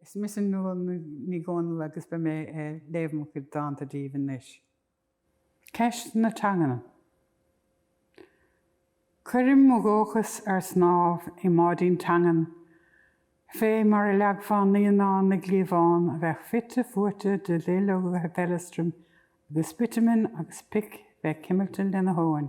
Is mise Nuala Ní Dhomhnaill agus beidh mé ag léamh mo chuid dánta daoibh anois. Ceist na teangan. Cuirim mo dhóchas ar snámh i mbáidín teangan, fé mar a leagfá naíonán i gcliabhán a bheadh fite fuaite de dhuilleoga feileastraim agus bitiúman agus pic bheith cuimilte lena thóin.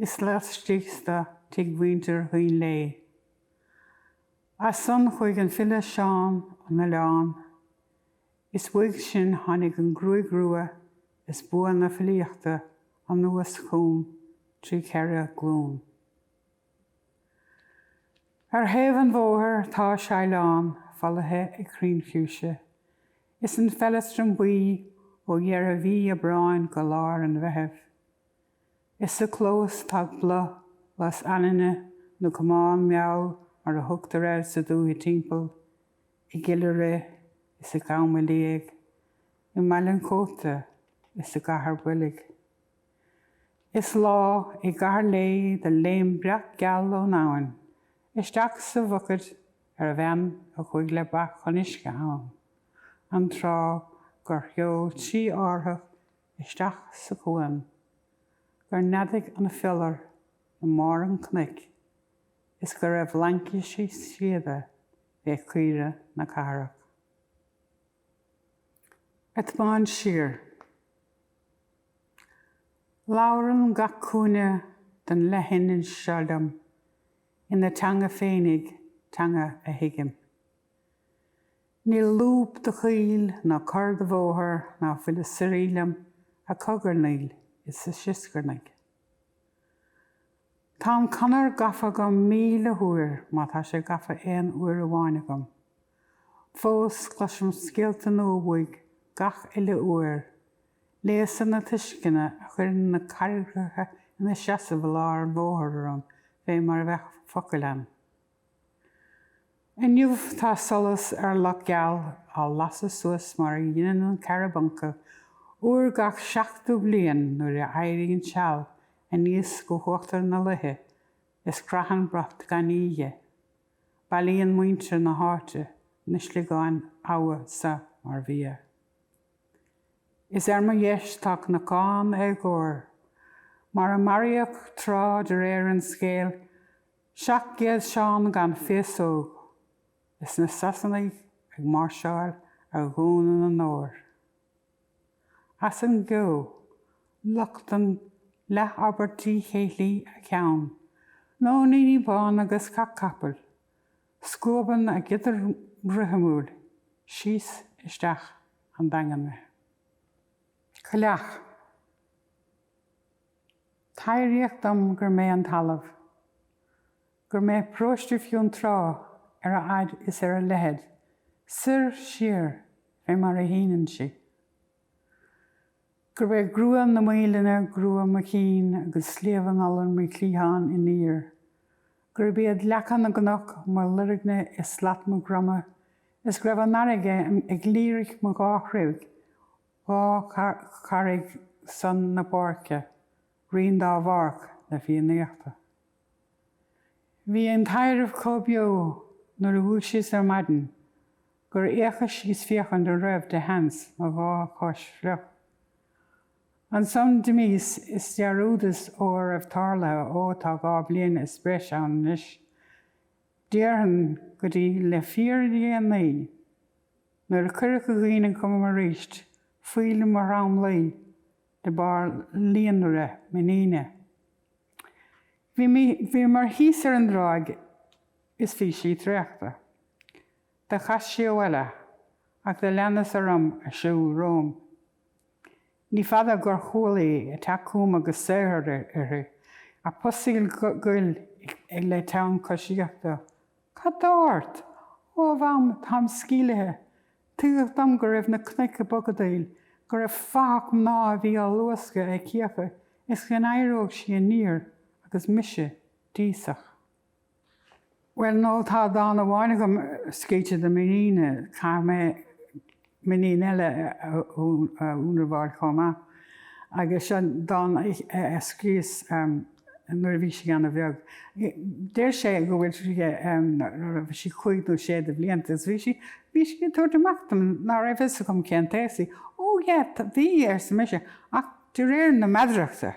Is laistíos dó tigh mhuintir Dhuinnshléibhe, as san chuaigh an file Seán 'on Oileán, is uaidh sin tháinig an ghruaig rua is bua na filíochta anuas chugam trí cheithre ghlún. Ar thaobh an bhóthair tá seidhleán folaithe ag crainn fiúise, is an feileastram buí ó dheireadh mhí Aibreáin go lár an Mheithimh. Is sa chlós tá boladh lus anainne, nó camán meall mar a thugtar air sa dúiche timpeall, i gCill Uru is i gCom an Liaigh, i mBaile an Chóta is i gCathair Boilg. Is lá i gCathair Léith do léim breac geal ón abhainn isteach sa bhucaid ar bhean a chuaigh le ba chun uisce ann, an tráth gur sheol trí árthach isteach sa chuan, gur neadaigh an fiolar i mbarr an chnoic is go raibh laincisí síoda fé chaoire na Cathrach. Ag tiomáint siar. Labhrann gach cúinne den leithinis seo liom ina teanga féinig, teanga a thuigim. Níl lúb de choill ná cor de bhóthar ná fuil ag suirí liom, ag cogarnaíl is ag sioscarnaigh. Tá an Chonair gafa agam míle uair má tá sé gafa aon uair amháin agam. Fós cloisim scéalta nua uaidh gach uile uair, léasanna tuisceana a chuireann na carraigreacha ina seasamh i lár an bhóthair orm fé mar a bheadh focail ann. Inniu tá solas ar Loch Geal á lasadh suas mar a dheineann an Carabuncal uair gach seachtú bliain nuair a éiríonn seal aníos go huachtar na loiche is croitheann brat gainní dhi. Bailíonn muintir na háite na sliogáin abhann seo mar bhia. Is ar mo dheis tá Cnocán Éagóir, mar a maraíodh tráth de réir an scéil Seacht gcéad Seán gan féasóg is na Sasanaigh ag máirseáil ar Dhún an Óir. As an gceo, nochtann leathabairt díchéillí a ceann, nóiníní bána 'gus cac capaill, scuabann a giodar rithimiúil síos isteach an Daingean mé. Cailleach. Taibhríodh dom gur mé an talamh, gur mé paróiste Fionntrá ar a fhaid is ar a leithead, soir, siar, fé mar a shíneann sí. Gurb é grua na Maoilinne grua mo chinn agus Sliabh an Iolair mo chliathán aniar. Gurb iad leaca na gcnoc mo loirgne is slat mo dhroma is go raibh an fharraige ag líric mo dhá throigh. Dhá charraig san na Páirce, Rinn Dá Bhárc na Fiannaíochta. Bhí an taidhreamh chomh beo nuair a dhúisíos ar maidin gur fhéachas síos féachaint an raibh de sheans mo dhá chois fliuch. Ansan d'imíos is dhearúdas a raibh tarlaithe ó tá dhá bhliain is breis ann anois. Déarfainn go dtí le fíordhéanaí, nuair a cuireadh i gcuimhne chugam arís, fuíoll mo thromluí de bharr líonrith m'iníne. Bhíomar thíos ar an dtráigh is bhí sí traochta. Do chas sí abhaile, ach do leanas orm ag siúl romham. Ní fada gur chuala í ag teacht chugam agus saothar uirthi, ag pusaíl ghoil le teann coisíochta. Cad tá ort? Ó, a Mham, táim sceimhlithe. Tuigeadh dom go raibh na cnoic ag bogadaíl, go raibh fathach mná a bhí ag luascadh a cíocha is go n-éireodh sí aniar agus mise d'íosfadh. Bhuel, no, tá dán amháin agam scríte do m'iníon, caithfidh mé m'iníon eile a ionramháil chomh maith, agus seo dán a scríos nuair a bhí sí an-bheag. Deir sé go bhfuil sí, go raibh sí cúig nó sé de bhlianta agus bhí sí, bhí sí ag tabhairt amach dom ná raibh fhios agam cén t-aos í. Ó yeah, bhí, arsa mise, ach de réir na meadarachta,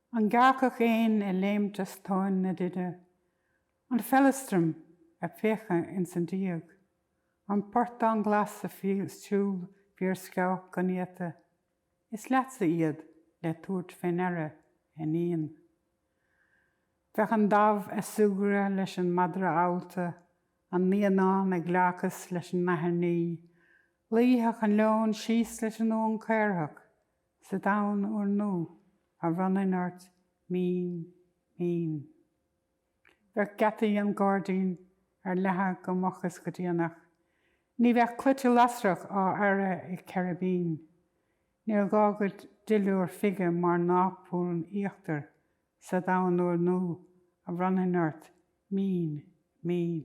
An gearrcach éin ag léimt as tóin na nide, an feileastram ag péacadh ins an díog, an portán glas ag siúl fiarsceabhach go néata, is leatsa iad le tabhairt fé ndeara, a iníon. Bheadh an damh a' súgradh leis an madra allta, an naíonán ag gleáchas leis an nathair nimhe, luífeadh an leon síos leis an uan caorach, Sa domhan úrnua a bhronnfainn ort mín, mín. Bheadh geataí an ghairdín ar leathadh go moch is go déanach. Ní bheadh claimhte lasrach á fhearadh ag Ceiribín. Níor ghá duit duilliúr fige mar naprún íochtair sa domhan úrnua a bhronnfainn ort mín, mín.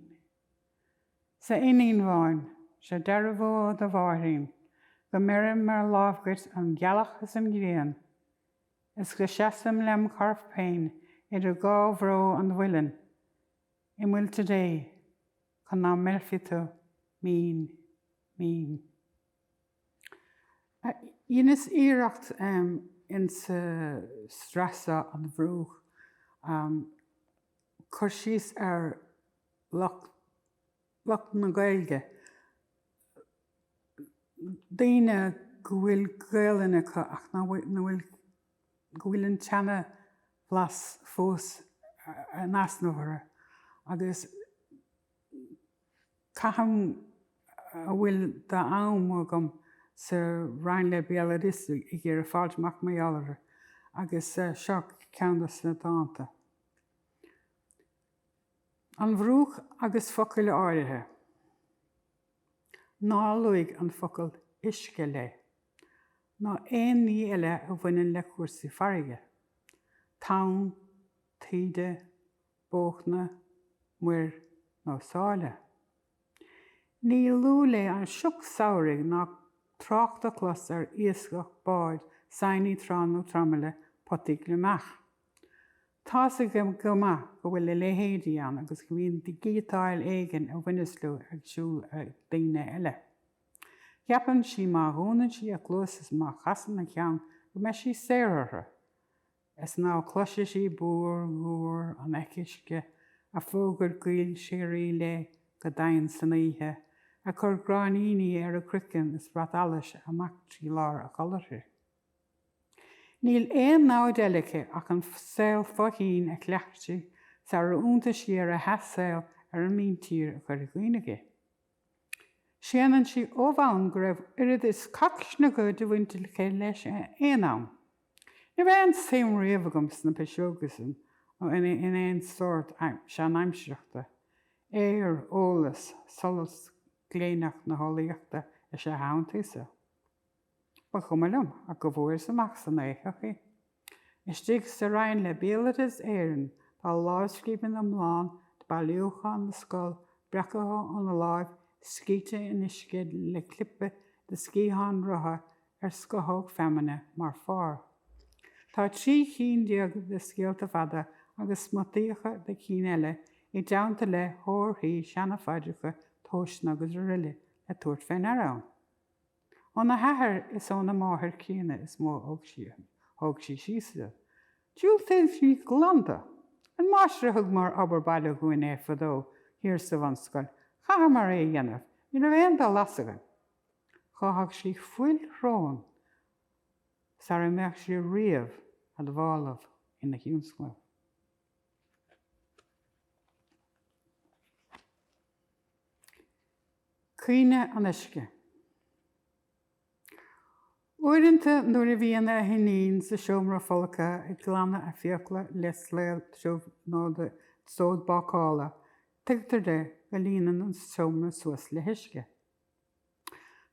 'S a iníon bháin, seo dearbhú ó do mháithrín, Go mbeirim ar láimh dhuit an ghealach is an ghrian, Is go seasaim lem chorp féin idir dhá bhró an mhuilinn, I muilte Dé, chun ná meilfí tú mín, mín. Dheineas iarracht ins a' sraith seo, An Mhurúch, cur síos ar. lucht na Gaeilge, daoine go bhfuil Gaolainn acu ach nach bhfuil, go bhfuil an tseana-bhlas fós in easnamh orthu agus caithim a bhfuil d'am agam sa Roinn le Béaloideas ag iarraidh fáilt amach mar gheall orthu agus seo ceann des na dánta. An Mhurúch agus focail áirithe. Ná luaigh an focal 'uisce' léi, ná aon ní eile a bhaineann le cúrsaí farraige, tonn, taoide, bóchna, muir nó sáile. Ní lú léi an sioc samhraidh ná trácht a chlos ar iascach, báid, saighní trá nó traimile, potaí gliomach. Tá a fhios aici go maith go bhfuil a leithéidí ann agus go mbíonn gíotáil éigin a bhaineas leo ag siúl ag daoine eile. Ceapann sí má dhúnann sí a cluasa is má chasann a ceann go mbeidh sí saor orthu. Is ná cloisfidh sí búir dhúr an eich uisce, ag fógairt gaoil shíoraí léi go doimhin san oíche, ag cur gráinníní ar a croiceann is brat allais amach trí lár a codladh uirthi. Níl aon namhaid eile aici ach an saol fo-thoinn a chleacht sí sarar iontaigh sí ar a hathshaol ar an míntír a chur i gcuimhne dhi. Séanann sí ó bhonn go raibh oiread is cac snioga de bhaint aici leis aon am. Ní raibh aon suim riamh agam sna piseoga san nó in aon sórt seanaimsireachta. Aer, eolas, solas gléineach na heolaíochta is ea a shantaíos-sa. Ba chuma liom ach go bhfuaireas amach san éitheach í. Istigh sa roinn le Béaloideas Éireann tá lámhscríbhinn iomlán de Bailiúchán na Scol breactha óna láimh, scríte in uisce le clipe de sciathán rotha ar scothóg feamainne mar phár. Tá trí chinn déag de scéalta fada agus smutaíocha de chinn eile i dteannta le horthaí, seana-phaidreacha, tomhaiseanna agus aroile le tabhairt fé ndeara ann. Óna hathair is óna máthair críonna is mó a thóg sí síos iad. Diúltaíonn sí glan dó. An máistir a thug mar obair baile dhúinn é fadó thiar sa bhunscoil, chaitheamar é a dhéanamh, ní raibh aon dul as againn. Cháithfeadh sí fuil shrón sara mbeadh sí riamh admhálach ina thionscnamh. Cuimhne an uisce. Uaireanta nuair a bhíonn a hiníon sa seomra folctha ag glanadh a fiacla le slaod tiubh nó le sód bácála, tuigtear di go líonann an seomra suas le huisce.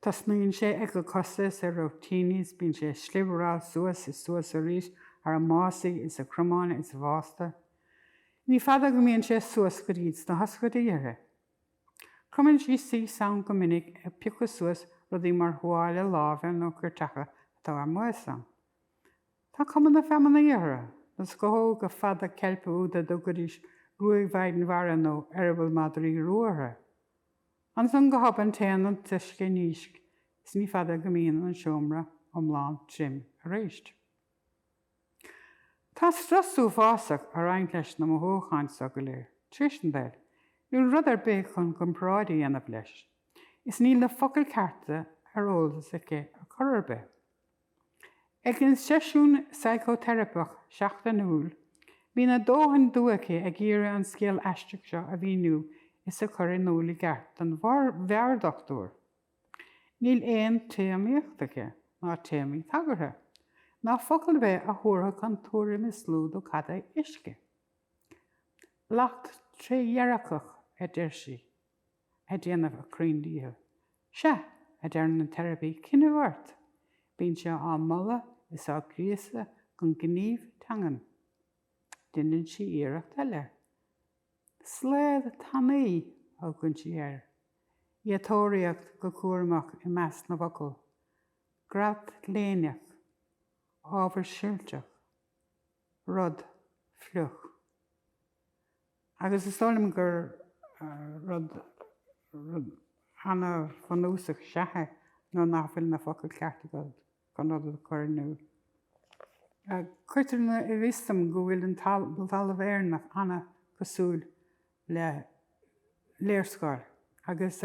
Tosnaíonn sé ag a cosa is a rúitíní is bíonn sé ag slibearáil suas is suas arís thar a másaí is a cromáin is a bhásta. Ní fada go mbíonn sé suas go dtí sna hioscaidí uirthi. Cromann sí síos ann go minic ag piocadh suas rudaí mar thuáille láimhe nó ceirteacha atá ar maos ann. Tá cuma na feamainne orthu, na scothóga fada ceilpe úd a dtugaidís gruaig mhaighdean mhara nó eireaball madraí rua orthu. Ansan go hobann téann an t-uisce i ndísc is ní fada go mbíonn an seomra iomlán tirim arís. Tá strus uafásach ag roinnt leis na mothúcháin seo go léir, tar éis an tsaoil, níl rud ar bith chun comparáid a dhéanamh leis, is níl na focail cearta ar eolas aici ar chor ar bith. Ag an seisiún saiceoteiripeach seachtainiúil, bíonn a dóthain dua aici ag iarraidh an scéal aisteach seo a mhíniú is a chur in iúl i gceart don mheabhairdhochtúir. Níl aon téarmaíocht aici, ná téarmaí tagartha, ná focal ar bith a thabharfadh an tuairim is lú do cad é 'uisce'. Lacht trédhearcach, a deir sí, ag déanamh a cruinndíchill. 'Sea', a deireann an teiripí, 'coinnibh ort! Bíonn sé á moladh is á gríosadh chun gnímh teangan. Deineann sí iarracht eile. Slaod tanaí a thugann sí air, í ag tóraíocht go cúramach i measc na bhfocal, grat léinneach, ábhar silteach, rud fliuch. Agus is dóigh liom gur rud an-bhunúsach is ea é nuair nach bhfuil na focail chearta agat. chun rud a chur in iúl. Cuirtear i bhfios dom go bhfuil an talamh Éireannach an-chosúil le léarscáil agus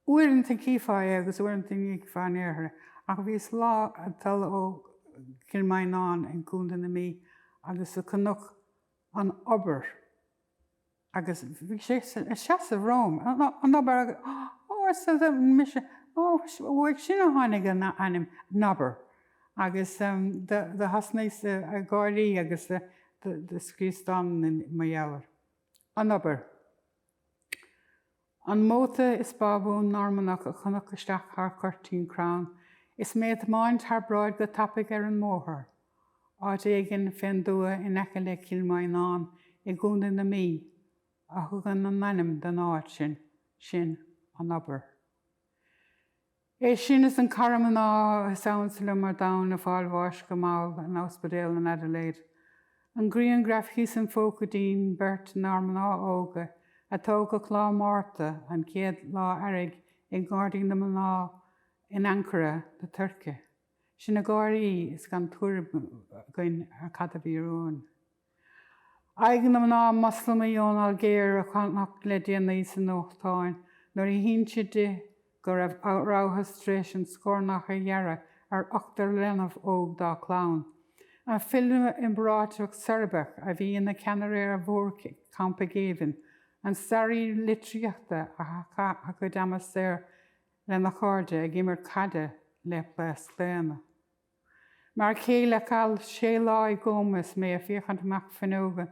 uaireanta chífeá é agus uaireanta ní chífeá in aon chor é. Ach bhíos lá ag dul ó Chill Mhaighneann i gContae na Mí agus do chonac An Obair, Agus bhí sé ag seasamh romham, an obair agus, ó, arsa mise, ó, uaidh sin a tháinig an ainm Nobber. Agus do thosnaíos ag gáirí agus do scríos dán mar gheall air, An Obair. An móta is bábhún Normannach a chonac isteach thar chuirtín crann is mé ag tiomáint thar bráid go tapaidh ar an mbóthar, áit éigin fén dtuath in aice le Cill Mhaighneann i gContae na Mí, a thugann an ainm don áit sin, sin, An Obair. É sin is an cara mná is ansa liom ar domhan ag fáil bháis go mall in ospidéal an Adelaide. An grianghraf thíos im phóca dínn beirt inár mná óga a tógadh lá Márta an chéad lá earraigh i nGairdín na Mná in Ankara na Tuirce. Sinn ag gáirí is gan tuairim againn ar cad a bhí romhainn. Aghaidh na mná Moslamaí ón Ailgéir a chonac le déanaí sa nuachtán nuair a hínseadh di go raibh rabhthas tar éis an scornach a ghearradh ar ochtar leanbh óg dá clann. An file iomráiteach Seirbeach a bhí ina cheannaire ar mhórchampa géibhinn, an staraí litríochta a chaith a chuid ama saor lena chairde ag imirt caide le plaosc daonna. M'fhear céile a chaith sé lá i gcóma is mé a' féachaint amach fuinneoga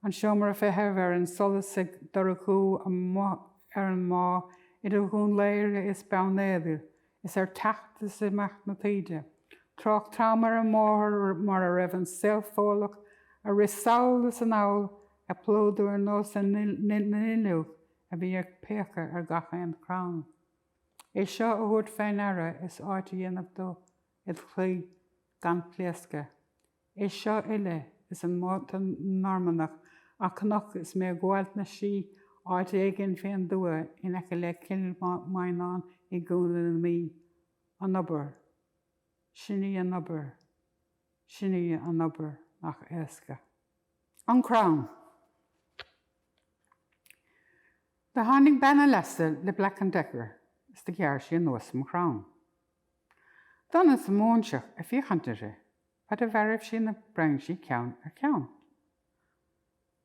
an seomra feithimh ar an solas ag dorchú amuigh ar an mbá idir Dhún Laoghaire is Beann Éadair is ar theacht is imeacht na taoide, trácht trom ar an mbóthar mar a raibh an saol Fódlach a' rith sall is anall ag plódú ar nós na nduilleog a bhí ag péacadh ar gach aon chrann. É seo a thabhairt fé ndeara is áit a dhéanamh do id chroí gan pléascadh. É seo uile, is an móta Normannach a chonac is mé a' gabháilt na slí áit éigin fén dtuath in aice le Cill Mhaighneann i gContae na Mí, an obair, sin í an obair, sin í an obair nach éasca. an crann. Do tháinig bean a leasa le Black and Decker is do ghearr sí anuas an crann. D'fhan an móinteach ag féachaint uirthi fad a bheartaigh sí na brainsí ceann ar cheann.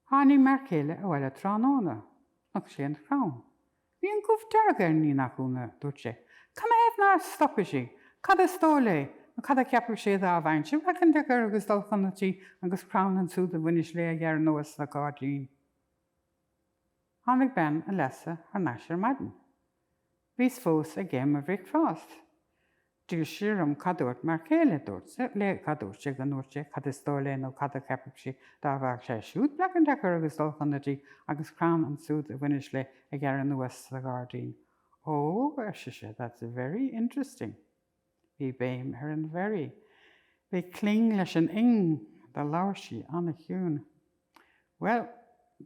Tháinig m'fhear céile abhaile tráthnóna, chonaic sé an crann, Bhí an gubh dearg ar an ní nach ionadh, a dúirt sé. Canathaobh nár stop sí? Cad is dóigh léi? Nó cad a cheapfadh sí a dá a bheinnse ag féachaint ar Ger agus dul chun a tí agus crann ansúd a bhaineas léi a ghearradh anuas le gairdín? Tháinig bean a leasa thar n-ais ar maidin. Bhíos fós ag ithe mo bhricfeást. d'fhill sí orm, cad dúirt m'fhear céile, dúirt sé, léi, cad dúirt sé, go ndúirt sé, cad is dóigh léi nó cad a cheapfadh sí dá bhfaigheadh sé siúd Black and Decker agus dul chun na dí agus crann ansúd a bhaineas léi a ghearradh anuas sa ghairdín? Ó, ar sise, that's very interesting. Bhí béim ar an very. Bhí cling leis an ing. Do labhair sí an-chiúin. Bhuel,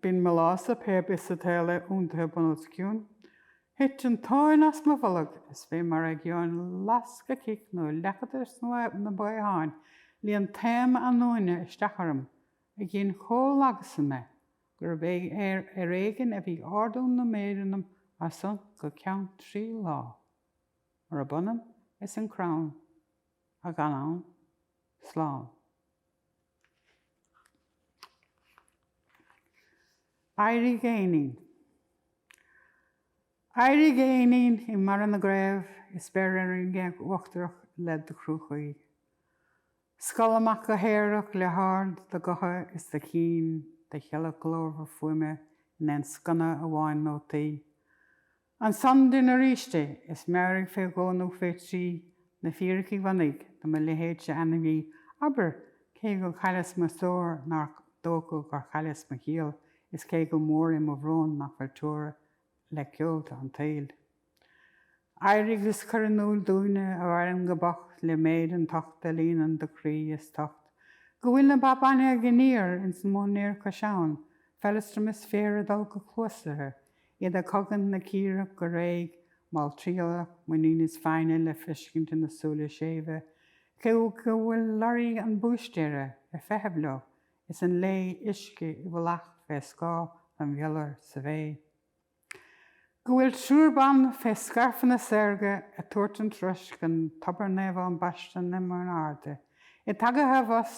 b'in mo lása pé bith sa tsaol é iontaithe bunús ciúin. Thit an tóin as mo bholg, is bhí mar a gheobhainn lasc a chic nó leac de na baotháin, líon taom anúine isteach orm, a ghin chomh lagasa mé gurb é ar éigin a bhí ardú na méire anam as san go ceann trí lá. Murab ionann is an crann a ghan ann, slán. Éirigh éinín. Éirigh a éinín i mbarra na gcraobh is beir ar an ngéag uachtarach le do chruach ghaoith. Scall amach go haerach le haird do ghutha is do chinn, do sheilg ghlórmhar fuaime in aon sconna amháin nótaí. Ansan duinn arís é, is mearaí fé dhó nó fé thrí na fíricí bhunaidh do mo leithéidse ainmhí, abair, cé go chailleas mo stór nár dócha gur chailleas mo chiall is cé go mór é mo bhrón nach bhfuil teora le ceolta an tsaoil. Éirigh is cuir in úil dúinne a mhaireann go bocht le méid an tocht a líonann do chroí is t'ucht go bhfuil na ba bainne ag iníor ins an móinéar cois abhann feileastram is féar ag dul go cluastuirthe iad a chogaint na círeach go réidh, malltriallach, muinín is foighne le feiscint ina súile séimhe, cé go bhfuil lorraí an bhúistéara ar feitheamh leo is an lao uisce i bhfolach fé scáth an bhiolair sa bhféith, go bhfuil triúr ban fé scairfeanna saorga ag tabhairt an troisc don tobar naomhán baiste na Mion Airde, iad tagaithe abhus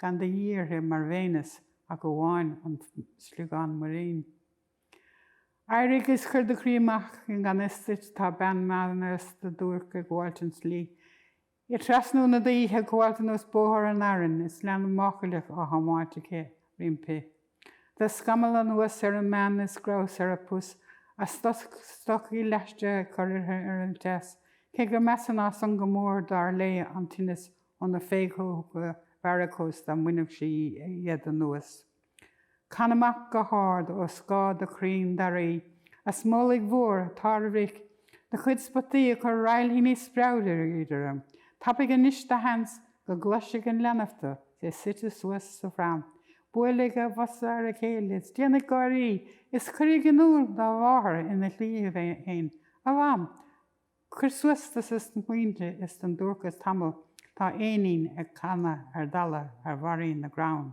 gan de dhíth uirthi mar Bhéineas ach amháin an sliogán muirín. Éirigh is cuir do chroí amach i ngan fhios duit tá bean mheánaosta duairc ag gabháilt an tslí, i dtrasnú na duimhche, ag gabháilt anuas bóthar an Fhearainn is leanbh máchaileach á thiomáint aici roimpi. Tá scamall anuas ar an mbean is grabhas ar a pus a stocaí leaistice ag cur uirthi ar an teas, cé gur measa ná san go mór dar léi an tinneas ó na féitheoga varicose dá mbainfeadh sí iad anuas. Can amach go hard ó scáth do chrainn daraí, a smólaigh mhór, tarrbhric, do chuid spotaí ag cur railthíní speabhraídí orm, tapaigh anois do sheans go gcloisfidh an leanbh tú, é suite suas sa phram, buailfidh a bhosa ar a chéile is déanfaidh gáirí is cuirfidh in iúl dá mháthair ina shlí féin, A Mham! Cuir suas dos na smaointe is don duairceas tamall tá éinín ag canadh ar dalladh ar bharraí na gcrann.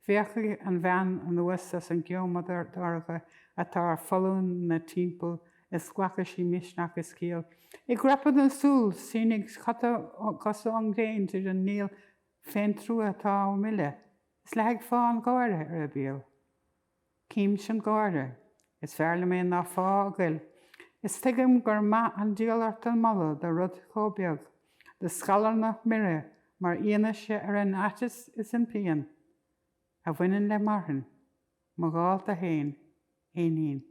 Féachfaidh an bhean anuas as an gceo modardhorcha atá ar foluain 'na timpeall is glacfaidh sí misneach is ciall. I gcrapadh na súl sínfidh cosa ón ngréin tríd an néal féintrua atá á milleadh is leathfaidh fáthadh an gháire ar a béal. Címse an gáire. Is fearr liom é ná fáth a goil. Is tuigim gur maith an díol ort an moladh do rud chomh beag, do scalarnach mire mar fhianaise ar an aiteas is an phian a bhaineann le marthain. Mo dhálta féin. Éinín.